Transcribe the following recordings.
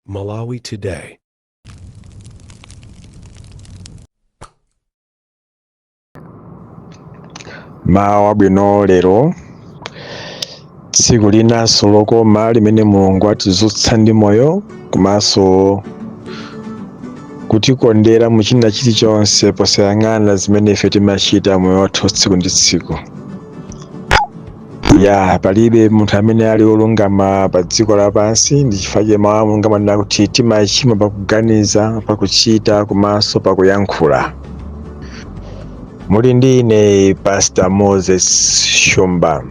Malawi Today. mmawa wabwino lero tsiku linanso lokoma limene mulungu atizutsa ndi moyo komanso kutikondera mu china chilichonse posayang'ana zimene ife timachita moyo wathu tsiku ndi tsiku ya palibe munthu amene ali olungama pa dziko lapansi ndi chifukwa chake mawu a mulungu amanena kuti timachimwa pakuganiza pakuchita komanso pakuyankhula muli ndi ine pastor moses shumba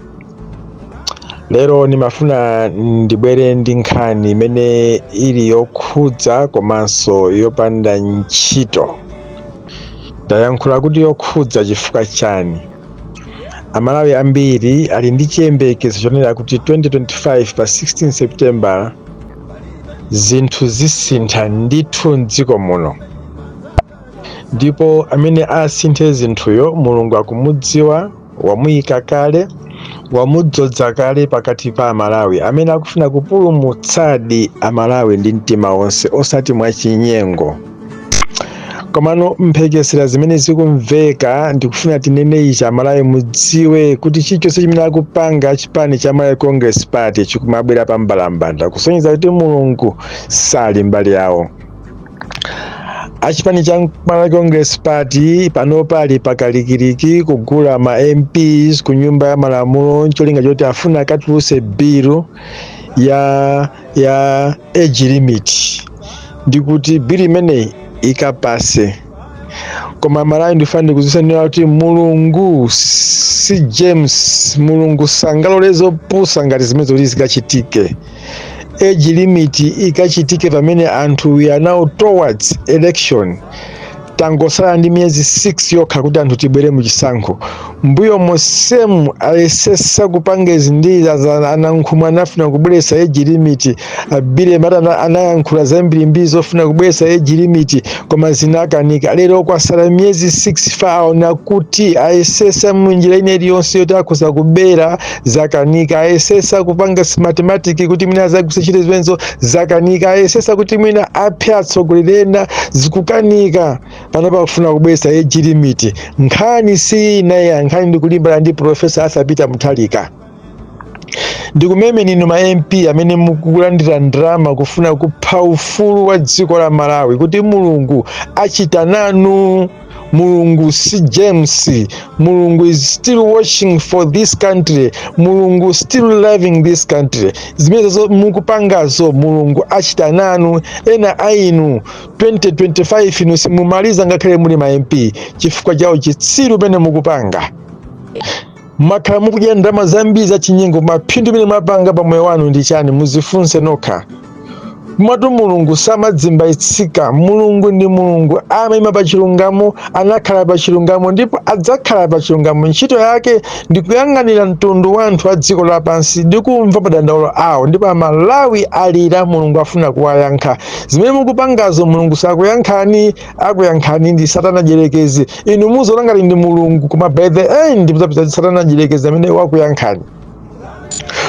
lero ndimafuna ndibwere ndi nkhani imene ili yokhudza komanso yopanda ntchito ndayankhula kuti yokhudza chifukwa chani amalawi ambiri ali ndi chiyembekezo chonena kuti 2025 pa 16 september zinthu zisintha ndithu mdziko muno ndipo amene asinthe zinthuyo mulungu akumudziwa wamuyika kale wamudzodza kale pakati pa amalawi amene akufuna kupulumutsadi amalawi ndi mtima wonse osati mwachinyengo komano mphekesera zimene zikumveka ndikufuna tinene ichi amalawi mudziwe kuti chilichonse chimene akupanga achipani cha malawi congress party chikumabwera pa mbalambanda kusonyeza kuti mulungu sali mbali yawo achipani cha malawi congress party panopa ali pakalikiliki kugula ma mps ku nyumba ya malamulo ncholinga choti afuna akatuluse bilu ya ya age limit ndi kuti bilu imeneyi ikapase koma amalawi ndifuna ndikutsimikizireni kuti mulungu si james mulungu sangalole zopusa ngati zimenezo kuti zikachitike age limit ikachitike pamene anthu we are now towards election tangosala ndi miyezi 6 yokha kuti anthu tibwere mu chisankho mbuyo mosemu ayesesa kupanga izi ndi a Nankhumwa anafuna kubweresa age limit a bili mayaya anayankhula zambirimbiri zofuna kubweresa age limit koma zinakanika lero kwasala miyezi 6 ifa aona kuti ayesesa munjira ina iliyonse yoti akhoza kubera zakanika ayesesa kupanga smartmatic kuti mwina azagwisa ntchito zimenezo zakanika ayesesa kuti mwina aphe atsogoleri ena zikukanika panopa akufuna kubweresa age limit nkhani si ina ayi nkhani ndikulimbana ndi profesa arthur peter mutharika ndikumemeni inu ma mp amene mukulandira ndalama kufuna kupha ufulu wa dziko la malawi kuti mulungu achita nanu mulungu si james mulungu is still watching for this country mulungu still loving this country zimenezo mukupangazo mulungu achita nanu ena a inu 2025 inu simumaliza ngakhale muli ma mp chifukwa cha uchitsiru umene mukupanga mwakhala mukudya ndalama zambiri za chinyengo koma phindu limene mwapanga pa moyo wanu ndi chani muzifunse nokha komatu mulungu samadzimbayitsika mulungu ndi mulungu amayima pa chilungamo anakhala pa chilungamo ndipo adzakhala pa chilungamo ntchito yake ndi kuyang'anira mtundu wa anthu a dziko lapansi ndi kumva madandaulo awo ndipo amalawi alira mulungu afuna kuwayankha zimene mukupangazo mulungu sakuyankhani akuyankhani ndi satana dyerekezi inu muziona ngati ndi mulungu koma by the end muzapeza kuti satana dyerekezi amene wakuyankhani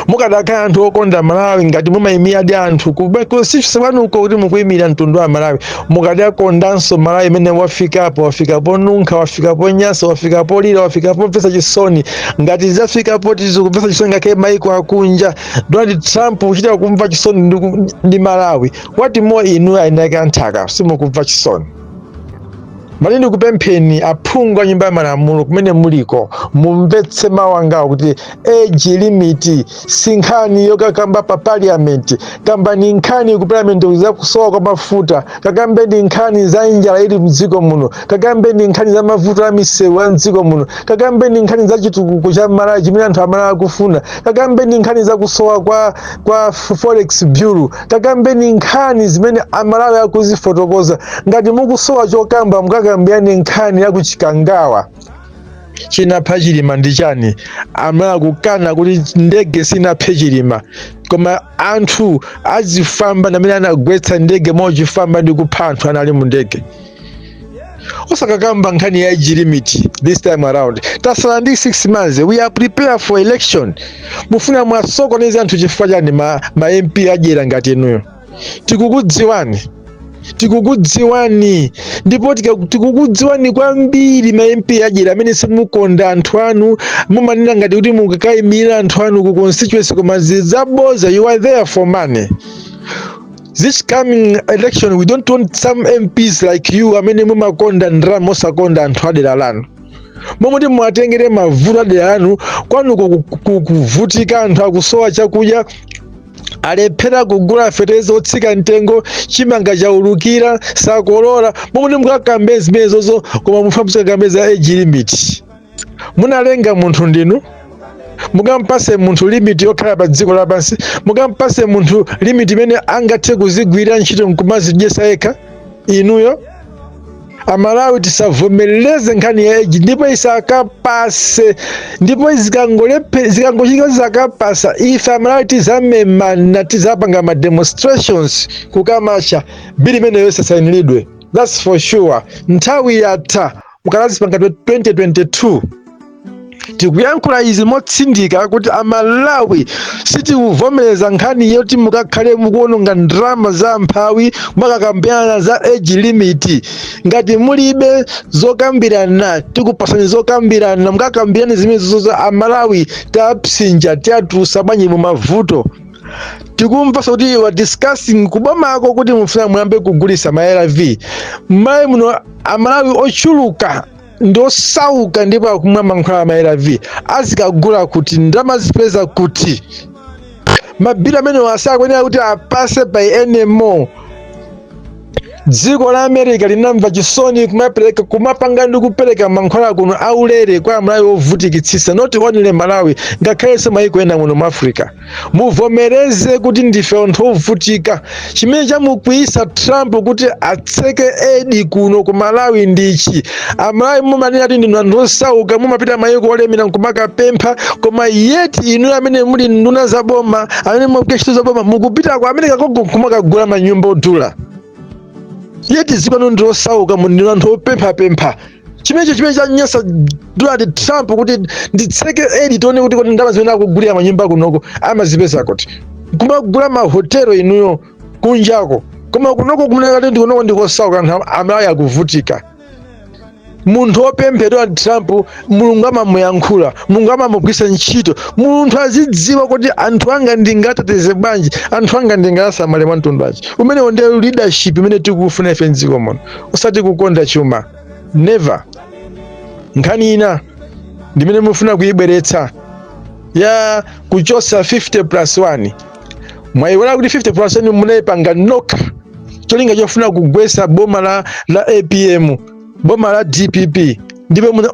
mukadakhala anthu okonda malawi ngati mumayimira ndi anthu kusiya kwanuko kuti mukuyimira mtundu wa malawi mukadakondanso malawi pamene wafikapo wafika ponunkha wafika ponyasa wafika polira wafika pomvetsa chisoni ngati zafika poti zikumvetsa chisoni ngakhale maiko akunja donald trump kuchita kumva chisoni ndi ku- ndi malawi what more inu eni ake a nthaka simukumva chisoni ndimati ndikupempheni aphungu a nyumba ya malamulo kumene muliko mumvetse mawu angawo kuti age limit si nkhani yokakamba pa parliament kambani nkhani ku parliament za kusowa kwa mafuta kakambeni nkhani za njala ili mdziko muno kakambeni nkhani za mavuto a misewu a mdziko muno kakambeni nkhani za chitukuko cha malawi chimene anthu amalawi akufuna kakambeni nkhani za kusowa kwa, kwa forex bureau kakambeni nkhani zimene amalawi akuzifotokoza ngati mukusowa chokamba mukakambirane nkhani ya kuchikangawa chinapha chilima ndi chani amalawi akukana kuti ndege sinaphe chilima koma anthu a zifwamba ndamene anagwetsa ndege mwachifwamba ndi kupha anthu anali mu ndege osakakamba nkhani ya age limit this time around tasala ndi 6 months we are prepared for election mufuna muwasokoneze anthu chifukwa chani ma, ma mp adyera ngati inuyo tikukudziwani tikukudziwani ndipo tika- tikukudziwani kwambiri ma mp adyera amene simukonda anthu anu mumanena ngati kuti mukakaimira anthu anu ku constituency koma zili zaboza you are there for money this coming election we don't want some mps like you amene mumakonda ndalama mosakonda anthu adera lanu momwe kuti muwatengere mavuto adera lanu kwanuko ku- ku- kuvutika anthu akusowa chakudya alephera kugula feteleza otsika mtengo chimanga chaulukira sakolola mmalo moti mukakambe zimenezozo koma mufuna muzikakamba za age limit munalenga munthu ndinu mukampase munthu limit yokhala pa dziko lapansi mukampase munthu limit imene angathe kuzigwira ntchito nkumazidyesa yekha inuyo amalawi tisavomereze nkhani ya age ndipo isakapase ndipo zikangolepe- zikangochitika zisakapasa ife amalawi tizamemana tizapanga ma demonstrations kukamacha bili imeneyo isasainilidwe thats for sure nthawi yatha mukalazipanga 2022 tikuyankhula izi motsindika kuti amalawi sitikuvomereza nkhani yoti mukakhale mukuononga ndalama za amphawi mwakakambirana za age limit ngati mulibe zokambirana tikupasani zokambirana mukakambirane zimenezo za amalawi tapsinja tiatulusa bwanji mu mavuto tikumvasa kuti you are discussing kubomako kuti mufuna muyambe kugulisa ma arv mmalawi muno amalawi ochuluka ndi osauka ndipo akumwa mankhwala ma-arv azikagula kuti ndalama azipeza kuti mabili amenewo asakuyenera kuti apase pa nmo dziko la america linamva chisoni kumapereka kumapanga ndi kupereka mankhwala kuno aulere kwa amalawi ovutikitsitsa not only malawi ngakhalenso mayiko ena muno mu africa muvomereze kuti ndife anthu ovutika chimene chamukwiyisa trump kuti atseke aid kuno ku malawi ndichi amalawi mumanena kuti ndinu anthu osauka mumapita mayiko olemera nkumakapempha koma yet inu amene muli nduna za boma amene mumapita ntchito za boma mukupita ku america koko nkumakagula manyumba odula yet zipano ndi osauka mu ndinu anthu opemphapempha chimenecho chimene chanyansa donald trump kuti nditseke aid tione kuti kodi ndalama zimene akugulira manyumba kunoko amazipeza kuti kumagula mahotelo inuyo kunjako koma kunoko kumenekati ndikunoko ndikosauka anthu amalawi akuvutika munthu wopempha donald trump mulungu amamuyankhula mulungu amamugwisa ntchito munthu azidziwa kuti anthu anga ndingateteze bwanji anthu anga ndingasamale mwa mtundu wanji umenewo ndi leadership imene tikufuna ife mdziko muno osati kukonda chuma never nkhani ina ndimene mufuna kuyibweretsa ya kuchosa 50 plus 1 mwayiwala kuti 50 plus 1 munayipanga nokha cholinga chofuna kugwesa boma la, la apm boma la dpp ndipo muna-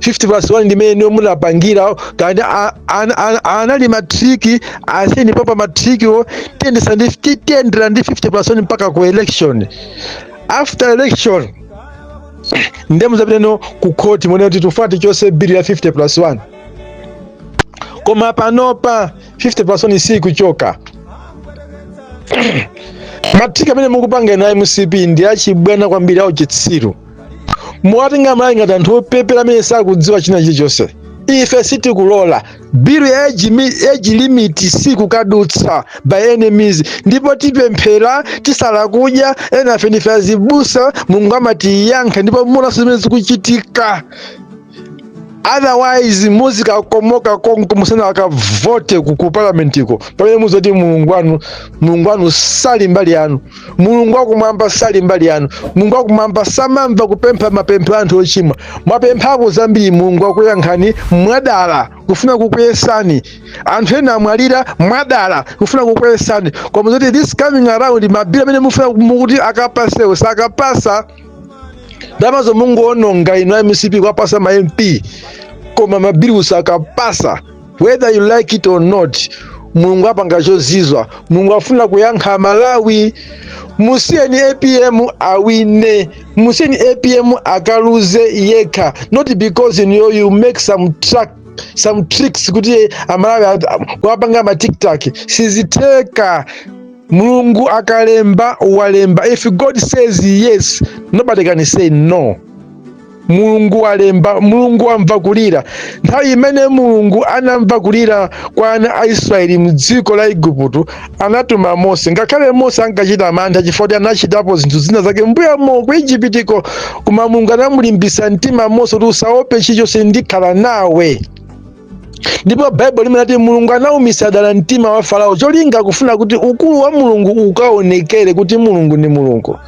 50 plus 1 ndimene niyo munapangira kandi a- ana- ana- anali matriki asiyeni papa matrikiwo tiyendesa ndi ti- tiyendera ndi 50 plus 1 mpaka ku election after election ndiye muzapiteno ku khoti monena kuti tifuna tichose bili ya 50 plus 1 koma panopa 50 plus 1 sikuchoka matriki amene mukupanga ena mcp ndi achibwana kwambiri auchitsiru muwatenga amalawi ngati anthu opepera amene sakudziwa china chilichonse ife sitikulola bilu ya age mi- age limit sikukadutsa by any means ndipo tipemphera tisala kudya enafe ndife azibusa mulungu amatiyankha ndipo munaso zimene zikuchitika otherwise muzikakomoka konko musanakavote ku ku parliamentiko pamene muzaone kuti mulungu wanu mulungu wanu sali mbali yanu mulungu wakumwamba sali mbali yanu mulungu wakumwamba samamva kupempha mapempho a anthu ochimwa mwapemphapo zambiri mulungu wakuyankhani mwadala kufuna kukuyesani anthu ena amwalira mwadala kufuna kukuyesani koma zoti this coming around mabilu amene mufuna kuti akapasewo sakapasa ndalama zomwe mungoononga inu a mcp kwapasa ma mp koma mabiluwo sakapasa whether you like it or not mulungu apanga chozizwa mulungu afuna kuyankha amalawi musiyeni apm awine musiyeni apm akaluze yekha not because you, know, you make some track some tricks kuti amalawi kuwapanga matiktak siziteka mulungu akalemba walemba if god says yes nobody can say no mulungu walemba mulungu wamva kulira nthawi imene mulungu anamva kulira kwa ana a israeli mdziko la igupto anatuma mose ngakhale mose ankachita mantha chifukwa kuti anachitapo zinthu zina zake mbuyamo ku ijipitiko koma mulungu anamulimbisa mtima mose kuti usaope chilichonse ndikhala nawe ndipo baibulo limanena kuti mulungu anaumitsa dala mtima wa farao cholinga kufuna kuti ukulu wa mulungu ukaonekere kuti mulungu ndi mulungu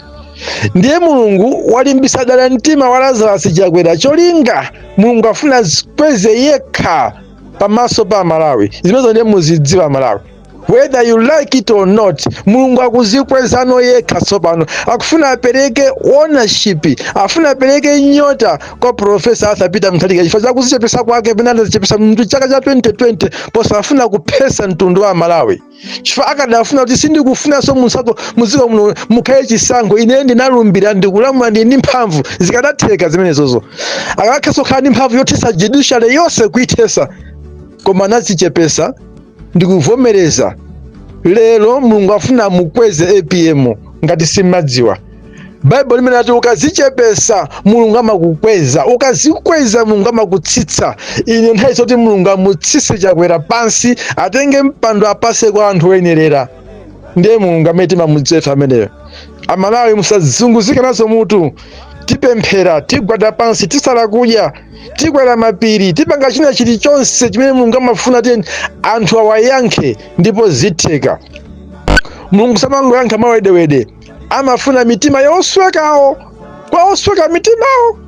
ndiye mulungu walimbitsa dala mtima wa lazarasi chakwera cholinga mulungu afuna azikweze yekha pamaso pa amalawi zimenezo ndiye muzidziwa amalawi whether you like it or not mulungu akuzikwezano yekha tsopano akufuna apereke ownership afuna apereke nyota kwa profesa arthur peter mutharika chifukwa chakuzichepesa kwake pamene anazichepesa mu chaka cha 2020 posafuna kuphesa mtundu wa malawi chifukwa akadafuna kuti sindikufunanso munsako muziko muno mukhale chisankho ine ndinalumbira ndikulamula ndi ndi mphamvu zikadatheka zimenezozo akanakhozanso kukhala ndi mphamvu yothesa judiciary yonse kuithesa koma anazichepesa ndikuvomereza lero mulungu afuna amukweze apm ngati simumadziwa baibulo limanena kuti ukazichepesa mulungu amakukweza ukazikweza mulungu amakutsitsa ino ndi nthawi yoti mulungu amutsitse chakwera pansi atenge mpando apase kwa anthu oyenerera ndiye mulungu amene timamudziwa ameneyo amalawi musazunguzike nazo mutu tipemphera tigwada pansi tisala kudya tikwera mapiri tipanga china chilichonse chimene mulungu amafuna kuti anthu awayankhe ndipo zitheka mulungu samangoyankha mawedewede amafuna mitima yoswekawo kwa osweka mitimawo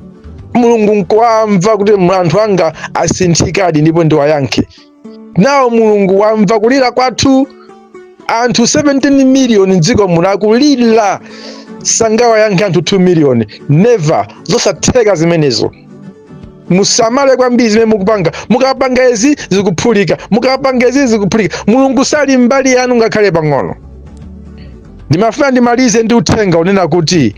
mulungu nkuwamva kuti anthu anga asinthikadi ndipo ndiwayankhe nawo mulungu wamva kulira kwathu anthu 17 miliyoni mdziko muno akulira sangawayankhe anthu 2 miliyoni never zosatheka zimenezo musamale kwambiri zimene mukupanga mukapanga izi zikuphulika mukapanga izi zikuphulika mulungu sali mbali yanu ngakhale pang'ono ndimafuna ndimalize ndi uthenga unena kuti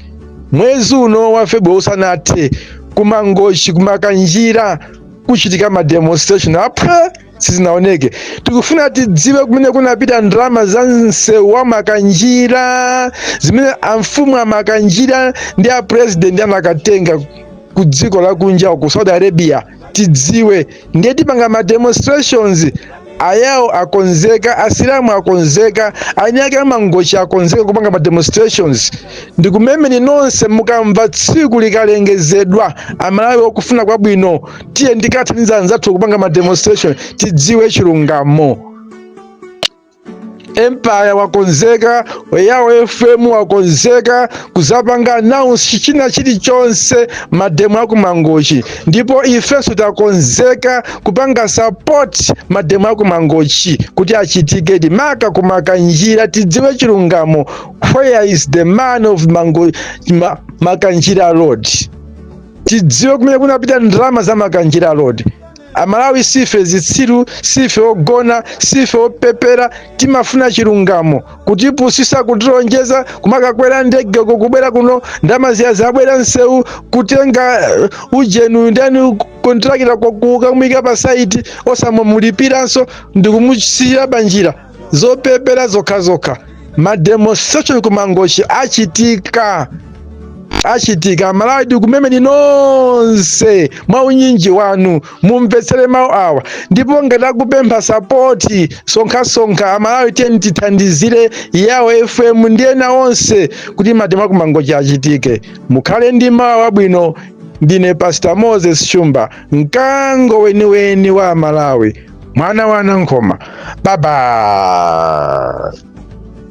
mwezi uno wa februwari usanathe kumangochi kumakanjira kuchitika ma demonstration apa sizinaoneke tikufuna tidziwe kumene kunapita ndalama za msewu wa makanjira zimene amfumu amakanjira ndi a president anakatenga ku dziko lakunja ku saudi arabia tidziwe ndiye tipanga ma demonstrations Ayao akonzeka, asilamu akonzeka, eniake a mangochi akonzeka kupanga ma demonstrations. Ndikumemeni nonse mukamva tsiku likalengezedwa, amalawi okufuna kwabwino, tiyeni tikathandize anzathu kupanga ma demonstration, tidziwe chilungamo. empire wakonzeka yawo fm wakonzeka kuzapanga announce china chilichonse mademo akumangochi ndipo ifenso takonzeka kupanga support mademo akumangochi kuti achitikedi maka kumakanjira tidziwe chilungamo where is the money of mango ma, makanjira road tidziwe kumene kunapita ndalama za makanjira road Amalawi siife zitsiru, siife ogona, siife opepera, timafuna chilungamo. Kutipusisa, kutilonjeza, kumakakwera ndegeko kubwera kuno, ndalama ziya zabwera nsewu, kutenga uh, ujeni uyu ndani kontrakita kukamuyika pa saiti osamulipiranso ndikumusiya panjira zopepera zokhazokha mademonstration kumangochi achitika achitika amalawi tikumemeni nonse mwa unyinji wanu mumvetsere mawu awa ndipo ngati akupempha sapoti sonkhasonkha amalawi tiyeni tithandizire yawo fm ndi ena onse kuti mademo akumangochi achitike mukhale ndi mawu abwino ndine pastor moses shumba mkango weniweni wa amalawi mwana wa nankhoma baba